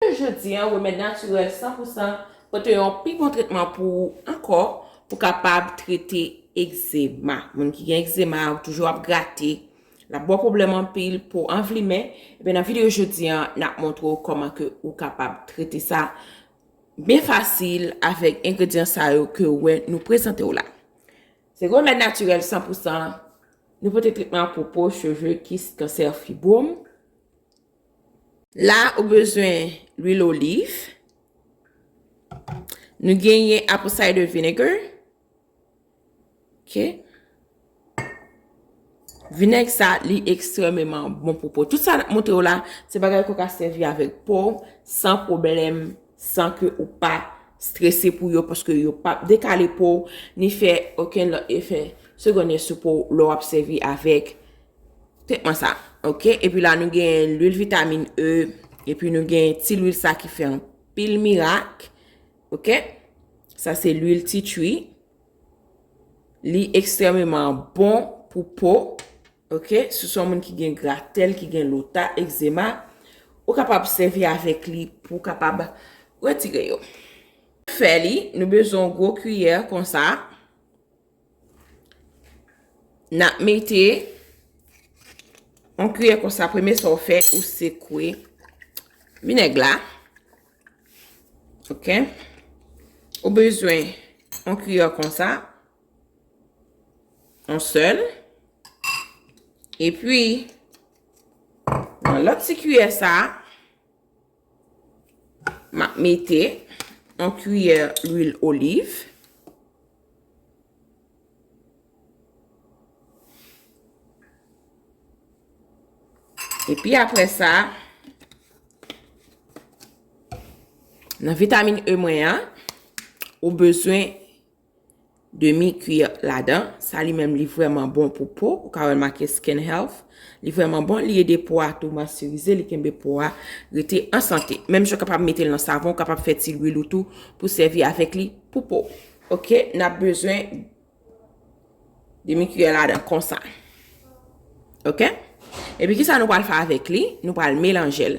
Jounen jodi an, remèd natirèl san pou san pote yon pi bon tretman pou ou ankò pou kapab trete egzema. Moun ki gen egzema ou toujou ap grate, l ap ba w pwoblèm anpil, po w anvlimen, ebyen nan videyo jodi an, n ap montre w kòman ke ou kapab trete sa byen fasil avèk engredyan sa yo ke ou wè nou prezante w la. Se remèd natirèl san pou san, nou pote tretman pou po, cheve, kis, kansè, fibwom. La ou bezwen lwil oliv. Nou genyen apple cider vinegar. Ok. Vinèg sa li ekstrememan bon pou po. Tout sa moutre ou la, se bagay kou ka sevi avèk po, san problem, san ke ou pa stresse pou yo, paske yo pa dekale po, ni fè oken lò efè, segonde sou po, lò ap sevi avèk Tèt mwen sa. Ok, epi la nou gen lwil vitamin E, epi nou gen ti lwil sa ki fè an pil mirak. Ok, sa se lwil ti chwi. Li ekstrememan bon pou po. Ok, sou son moun ki gen gratèl, ki gen lota, ekzema. Ou kapab sèvi avèk li pou kapab retire yo. Fè li, nou bezon gwo kiyè konsa. Nap mete on kriye konsa premye sa ou fe ou se kwe vineg la. Ok. Ou bezwen on kriye konsa. On sel. E pi. Nan lop ti kriye sa. M ap mete yon kiyè lwil oliv. Epi apre sa, nan vitamin E mwen an, ou bezwen. demi kwiè ladan, sa li menm li vrèman bon pou po, ou ka wèl make skin health, li vrèman bon, li ede po a tou mòstirize, li kenbe po a rete an sante, menm jan kapab metel nan savon, ou kapab fè ti lwil ou tou pou sèvi avèk li pou po, ok, nap bezwen demi kwiè ladan konsa, ok, epi kisa nou pral fè avèk li, nou pral melanjel,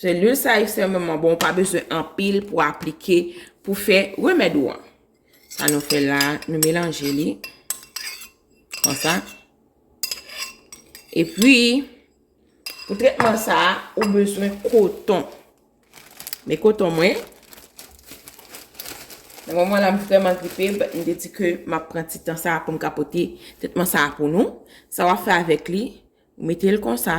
Se lwil sa ekstrèmeman bon, ou pa bezwen anpil pou aplike pou fè remèd ou an. Sa nou fè la, nou melanje li. Kon sa. E pi, pou tretman sa, ou bezwen koton. Men koton mwen. Nan mwen mwen la m vreman gripe, but m de di ke m ap pran ti tan sa pou m ka pote tretman sa pou nou. Sa w ap fè avèk li, ou mete l kon sa.